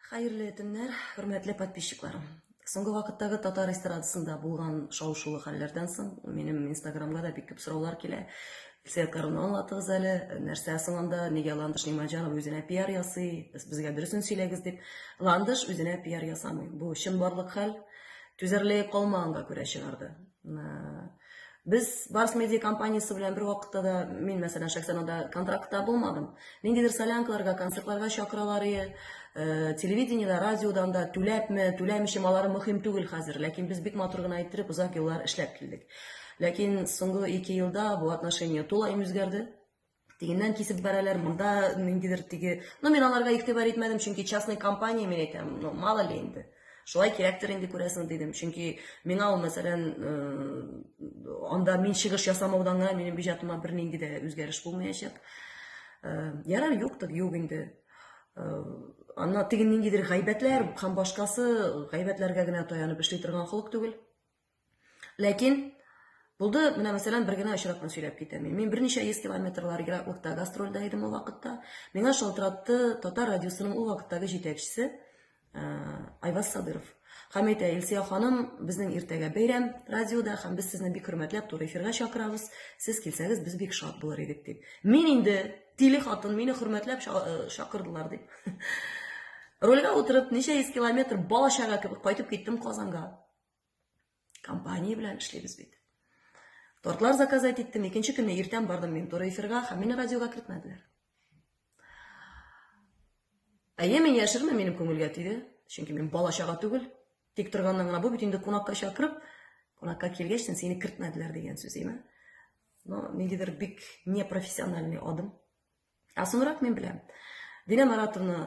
Хәерле төннәр, хөрмәтле подписчикларым. Соңгы вакыттагы татар эстрадасында булган шау-шулы хәлләрдән соң минем инстаграмга да бик күп сораулар килә. Илсөя Каруны аңлатыгыз әле, нәрсә соң анда, нигә Ландыш Нимаҗанов үзенә пиар ясый, безгә дөресен сөйләгез дип. Ландыш үзенә пиар ясамый. Бу чынбарлык хәл. Түзәрлеге калмаганга күрә чыгарды. Без Барс медиа компаниясе белән бер вакытта да, мин мәсәлән шәхсән анда контрактта булмадым. Ниндидер солянкаларга, концертларга чакыралар ие. Э, телевидениедә, радиодан да түләпме, түләмичме, алары мөһим түгел хәзер. Ләкин без бик матур гына иттереп озак еллар эшләп килдек. Ләкин соңгы ике елда бу отношение тулаем үзгәрде. тегеннән кисеп бәрәләр, монда ниндидер теге. Ну, мин аларга игътибар итмәдем, чөнки частный компания, мин әйтәм, ну, мало ли инде. Шулай кирәктер инде күрәсең дидем. Чөнки миңа ул, мәсәлән, анда мин чыгыш ясамаудан гына минем бюджетыма бернинди дә үзгәреш булмаячак. Ярар, юктыр, юк инде. Анна теге ниндидер гайбәтләр һәм башкасы гайбәтләргә генә таянып эшли торган холык түгел. Ләкин Булды, менә мәсәлән, бер генә очракны сөйләп китәм. Мин берничә йөз километрлар ераклыкта гастрольдә идем ул вакытта. Миңа шалтыратты татар радиосының ул вакыттагы җитәкчесе э, Айваз Садыров. Һәм әйтә, Илсия ханым, безнең иртәгә бәйрәм радиода һәм без сезне бик хөрмәтләп туры эфирга чакырабыз. Сез килсәгез, без бик шат булыр идек дип. Мин инде тиле хатын, мине хөрмәтләп э, чакырдылар дип. Рольгә утырып, ничә йөз километр бала чага кебек кайтып киттем Казанга. Компания белән эшлибез бит. Тортлар заказать иттем, икенче көнне иртән бардым мин туры эфирга, һәм мине радиога кертмәделәр. Әйе, мин яшермә, минем күңелгә тиде. Чөнки мин бала чага түгел. Тик торганнан гына бу бит инде кунакка чакырып, кунакка килгәч, сине кертмәделәр дигән сүз, әйме? Но ниндидер бик непрофессиональный адым. Ә соңрак мин беләм. Динә Маратовна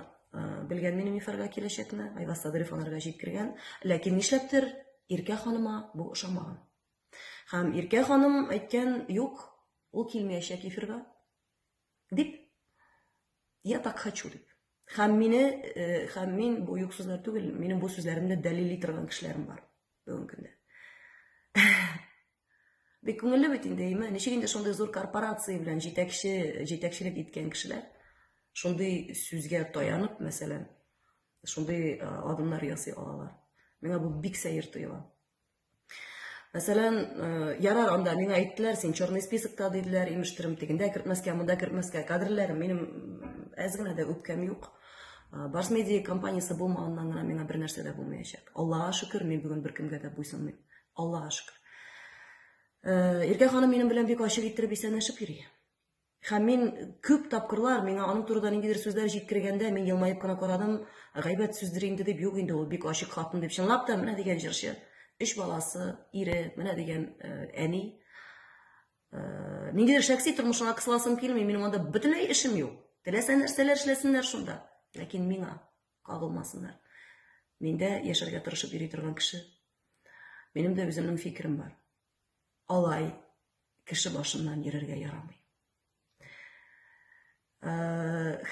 белгән минем мифарга киләчәкне, Айваз Садырев анарга җиткергән. Ләкин нишләптер Иркә ханыма бу ошамаган. Һәм Иркә ханым әйткән, юк, ул килмәячәк эфирга. Дип, я так хочу дип. Һәм мине, э, һәм мин бу юк сүзләр түгел, минем бу сүзләремне дәлили торган кешеләрем бар бүгенге көндә. Бик күңелле бит инде, әйме? Ничек инде шундый зур корпорация белән җитәкче, җитәкчелек иткән кешеләр шундый сүзгә таянып, мәсәлән, шундый адымнар ясый алалар. Миңа бу бик сәер тоела. Мәсәлән, ярар анда миңа әйттеләр, син черный списокта диделәр, имештерем тегендә кертмәскә, монда кертмәскә. Кадрларым минем әз генә дә үпкәм юк. Барс медиа компаниясе булмаганнан гына миңа бер нәрсә дә булмаячак. Аллага шөкер, мин бүген беркемгә дә буйсынмыйм. Аллага шөкер. Э, Иркә ханым минем белән бик ачык иттереп исәнләшеп йөри. Һәм мин күп тапкырлар миңа аның турында ниндидер сүзләр җиткергәндә мин елмаеп кына карадым, гайбәт сүздер инде дип, юк инде ул бик ачык хатын дип чынлап та менә дигән җырчы. Өч баласы, ире, менә дигән э, әни. Э, ниндидер шәхси тормышына кысыласым килми, минем анда бөтенләй эшем юк. Теләсә нәрсәләр эшләсеннәр шунда. Ләкин миңа Кагылмасыннар. Мин дә яшәргә тырышып йөри торган кеше. Минем дә үземнең фикерем бар. Алай кеше башыннан йөрергә ярамый.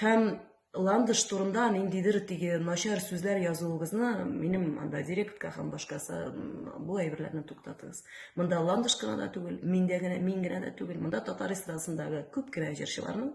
Һәм ландыш турында ниндидер теге начар сүзләр язуыгызны минем анда директка һәм башкасы бу әйберләрне туктатыгыз. Монда ландыш кына да түгел, миндә генә, мин генә дә түгел, монда татар эстрадасындагы күп кенә җырчыларның